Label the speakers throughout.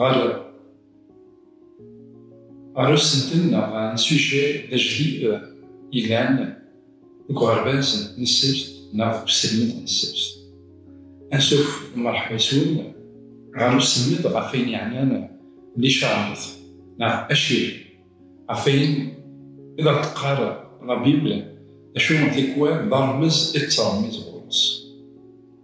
Speaker 1: Ɣer ɣer usentel neɣ n sujje d ajdid yellan deg uɣerbaz n ssebt neɣ deg uselmed n ssebt. Ansuf mṛeḥba yes-wen ɣer uselmed ɣef ayen yeɛnan licaṛat neɣ acir, ɣef ayen i d aɣ-d-teqqar labibl, d acu n tikwal d aṛmez i d-ttṛemmiz ɣur-s.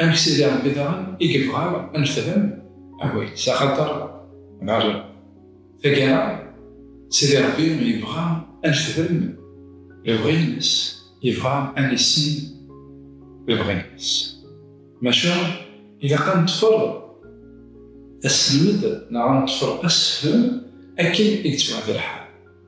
Speaker 1: Amek Sidi Ṛebbi daɣen i yebɣa ad nefhem awal-is? Axaṭer ɣer taggara, Sidi Ṛebbi yebɣa ad nefhem lebɣi-nnes, yebɣa ad nissin lebɣi-nnes. Maca ilaq ad neṭṭfer asselmed neɣ ad neṭṭfer assefhem akken i yettwaɛdel lḥal.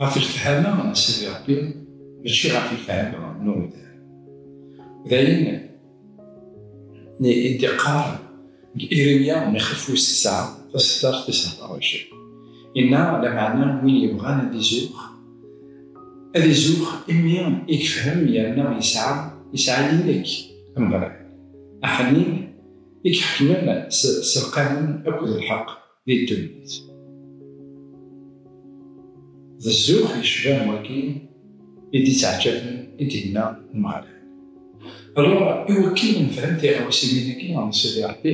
Speaker 1: Ɣef lefhama n Sidi Ṛebbi, mačči ɣef lefhama n uɣidan. D ayen i d-iqqar Irimya n ixef wis tesɛa, taseddart tis ḥdaṛ wɛecrin. Inna, Lameɛna win yebɣan ad izuxx, ad izuxx imi i yefhem yerna yesɛa, yesɛa yilek, Ameɣlal, aḥnin, i iḥekmen s lqanun akked lḥeqq, di ddunit. D zzux yecban wagi i d-ittɛeǧǧaben i d-yenna Umeɣlal. Alors, iwakken ad nefhem tiɣawsiwin-agi n Sidi Ṛebbi,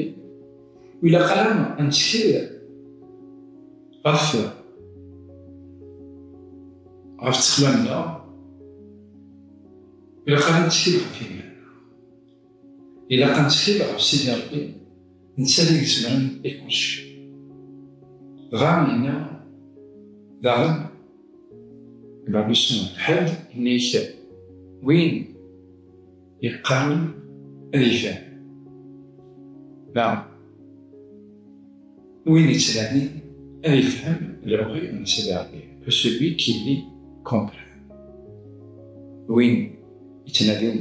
Speaker 1: ur ilaq ara ad nettkel ɣef ɣef ttexmam-nneɣ, ilaq ara ad nettkel ɣef yiman-nneɣ. Ilaq ad netkil ɣef Sidi Ṛebbi, netta i izemren i kullec. Dɣa yenna daɣen Babu Suma, Ḥedd inna-ak win yeqqaren ad yefhem, neɣ win yettnanin ad yefhem lebɣi n Sidi Ṛebbi, que celui qui lit comprenne, win yettnadin.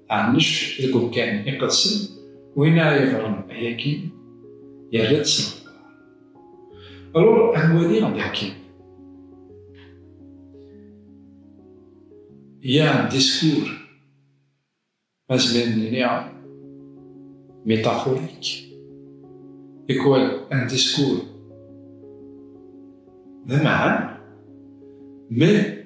Speaker 1: Ɛennec deg umkan iqedsen, win ara yeɣren ayagi yerra-d s leqder. Alors ad nwali daki. Il y a un discours, azmir nini, métaphorique, et quoi un discours de mais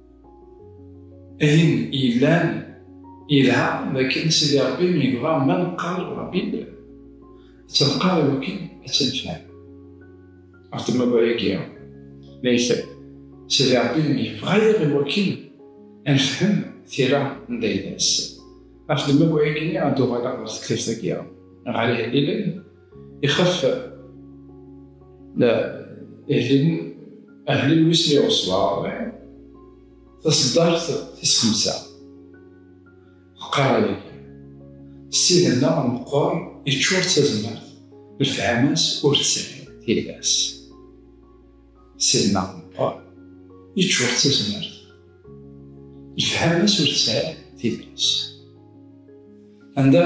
Speaker 1: Ayen yellan yelha dakken Sidi Ṛebbi yebɣa ma neqqar Ṛebbi ttneqqar iwakken ad tt-nefhem. Ɣef tmaba-agi, layt Sidi Ṛebbi yebɣa-yaɣ iwakken ad nefhem tira n Dayda-s. Ɣef tmaba-agi ad d-uɣaleɣ ɣer tektibt-agi, ɣer ihellilen, Ich hoffe, na, ihin ahlil wis mi ɣeswaɣ, taseddart tis xemsa. Qqareɣ yagi, ssid-nneɣ meqqer yeččur d tazmert, lefhama-s ur tesɛi tira-s. Ssid-nneɣ meqqer yeččur d tazmert, lefhama-s ur tesɛi tira-s. Anda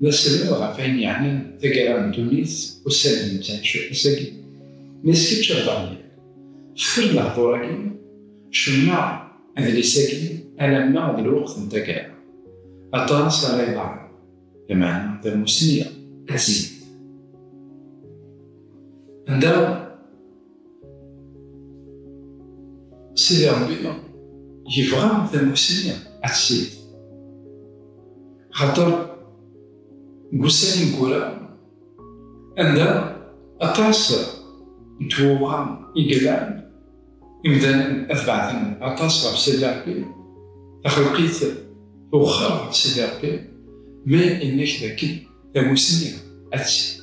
Speaker 1: D asebreb ɣef wayen yeɛnan taggara n ddunit ussan n nettɛic ass-agi. Ma s kečč a Daniel, fker-d lehdur-agi, cennaɣ adlis-agi alamma d lweqt n taggara. Aṭas ara iḍerrun, lameɛna tamussni ad tezyen. Anda. Sidi Ṛebbi yebɣa tamussni ad tessired. Xaṭer deg ussan ineggura, anda aṭas n twewɣa i yellan, imdanen ad beɛden aṭas ɣef Sidi Ṛebbi, taxelqit tewexxer ɣef Sidi Ṛebbi, mi yenna-k dakken tamussni ad tessired.